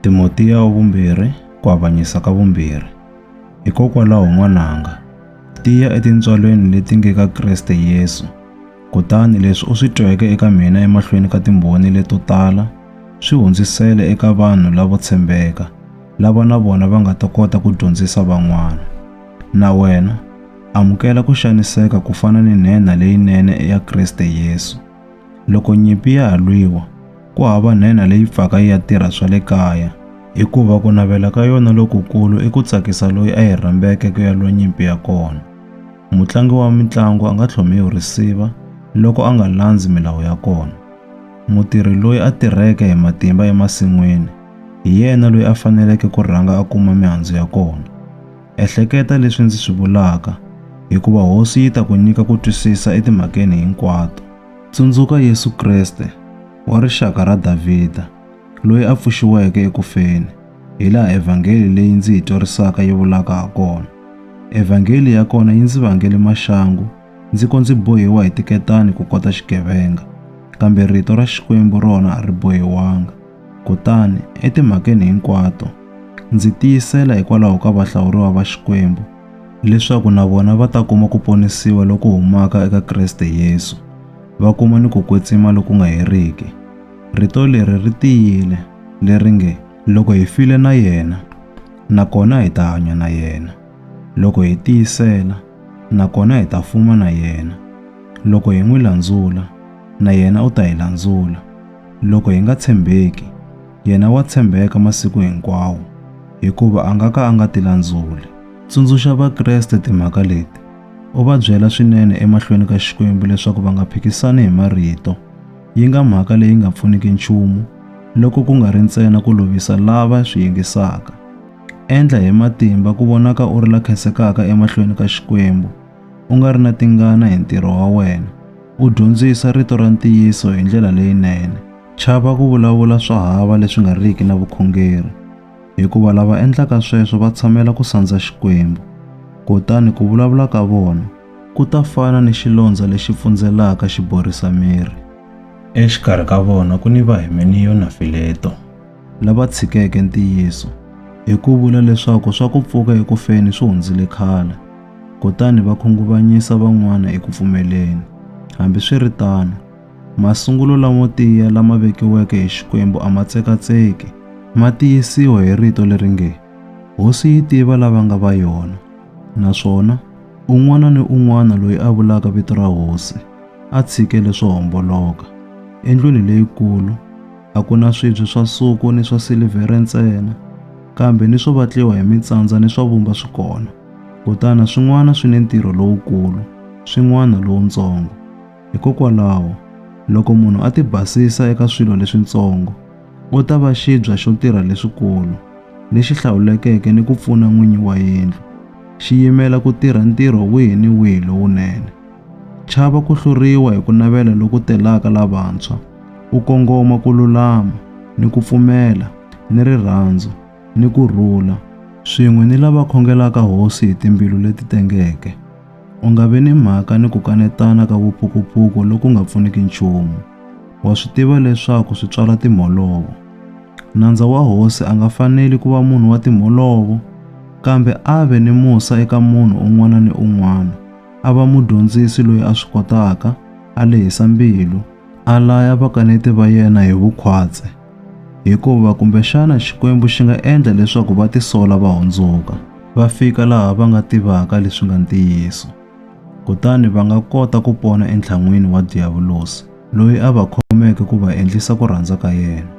Timotiya wa Vumbirhi, Ku Avanyisa ka Vumbirhi. Hikokwalaho n'wananga, tiya etintswalweni leti nge ka Kriste Yesu, kutani leswi u swi tweke eka mina emahlweni ka timbhoni leto tala swi hundzisele eka vanhu lavo tshembeka, lava na vona va nga ta kota ku dyondzisa van'wana. Na wena, amukela ku xaniseka ku fana ni nhenha leyinene ya Kriste Yesu. Loko nyimpi ya ha lwiwa, ku hava nhenha leyi pfaka yi ya tirha swa le kaya, hikuva ku navela ka yona lokukulu i ku tsakisa loyi a yi rhambeke ku ya lwa nyimpi ya kona. Mutlangi wa mitlangu a nga tlhomiwi risiva loko a nga landzi milawu ya kona. Mutirhi loyi a tirheke hi matimba emasin'wini hi yena loyi a faneleke ku rhanga a kuma mihandzu ya kona. Ehleketa leswi ndzi swi vulaka, hikuva Hosi yi ta ku nyika ku twisisa etimhakeni hinkwato. Tsundzuka Yesu Kreste, wa rixaka ra Davhida, loyi a pfuxiweke eku feni, hilaha Evhangeli leyi ndzi yi twarisaka yi vulaka hakona. Evhangeli ya kona yi ndzi vangele maxangu ndzi ko ndzi bohiwa hi tiketani ku kota xigevenga, kambe Rito ra Xikwembu rona a ri bohiwanga. Kutani, etimhakeni hinkwato, ndzi tiyisela hikwalaho ka vahlawuriwa va Xikwembu, leswaku na vona va ta kuma ku ponisiwa loku humaka eka Kriste Yesu, va kuma ni ku kwetsima loku nga heriki. Rito leri ri tiyile, leri nge, Loko hi file na yena, nakona hi ta hanya na yena. Loko hi tiyisela, nakona hi ta fuma na yena. Loko hi n'wi landzula, na yena u ta hi landzula. Loko hi nga tshembeki, yena wa tshembeka masiku hinkwawo, hikuva a nga ka a nga tilandzuli. Tsundzuxa Vakreste timhaka leti, u va byela swinene emahlweni ka Xikwembu leswaku va nga phikisani hi marito. Yi nga mhaka leyi nga pfuniki nchumu, loko ku nga ri ntsena ku lovisa lava swi yingisaka. Endla hi matimba ku vonaka u ri la khensekaka emahlweni ka Xikwembu. u nga ri na tingana hi ntirho wa wena, u dyondzisa rito ra ntiyiso hi ndlela leyinene. Chava ku vulavula swo hava leswi nga riki na vukhongeri, hikuva lava endlaka sweswo va tshamela ku sandza Xikwembu, kutani ku vulavula ka vona ku ta fana ni xilondza lexi pfundzelaka xi borisa miri. Exikarhi ka vona ku ni Vahimeniyo na Fileto. Lava tshikeke ntiyiso, hi ku vula leswaku swa ku pfuka eku feni swi hundzile khale. kutani va khunguvanyisa van'wana eku pfumeleni. Hambiswiritano, masungulo lamo tiya lama vekiweke hi Xikwembu a ma tsekatseki, ma tiyisiwa hi rito leri nge, Hosi yi tiva lava nga va yona, naswona un'wana ni un'wana loyi a vulaka vito ra Hosi a tshike leswo homboloka. Endlwini leyikulu a ku na swibye swa suku ni swa silivhere ntsena, kambe ni swo vatliwa hi mitsandza ni swa vumba swi kona. Kutani swin'wana swi ni ntirho lowukulu, swin'wana lowuntsongo. Hikokwalaho, loko munhu a tibasisa eka swilo leswintsongo, u ta va xibya xo tirha leswikulu, lexi hlawulekeke ni ku pfuna n'winyi wa yindlu, xi yimela ku tirha ntirho wihi ni wihi lowunene. Chava ku hluriwa hi ku navela loku telaka lavantshwa, u kongoma ku lulama, ni ku pfumela, ni rirhandzu. ni ku rhula, swin'we ni lava khongelaka Hosi hi timbilu leti tengeke. U nga vi ni mhaka ni ku kanetana ka vupukupuku loku nga pfuniki nchumu. Wa swi tiva leswaku swi tswala timholovo. Nandza wa Hosi a nga faneli ku va munhu wa timholovo, kambe a ve ni musa eka munhu un'wana ni un'wana, a va mudyondzisi loyi a swi kotaka, a lehisa mbilu, a laya vakaneti va yena hi vukhwatsi. Hikuva kumbexana Xikwembu xi nga endla leswaku va tisola va hundzuka, va fika laha va nga tivaka leswi nga ntiyiso. Kutani va nga kota ku pona entlhan'wini wa Diyavulosi, loyi a va khomeke ku va endlisa ku rhandza ka yena.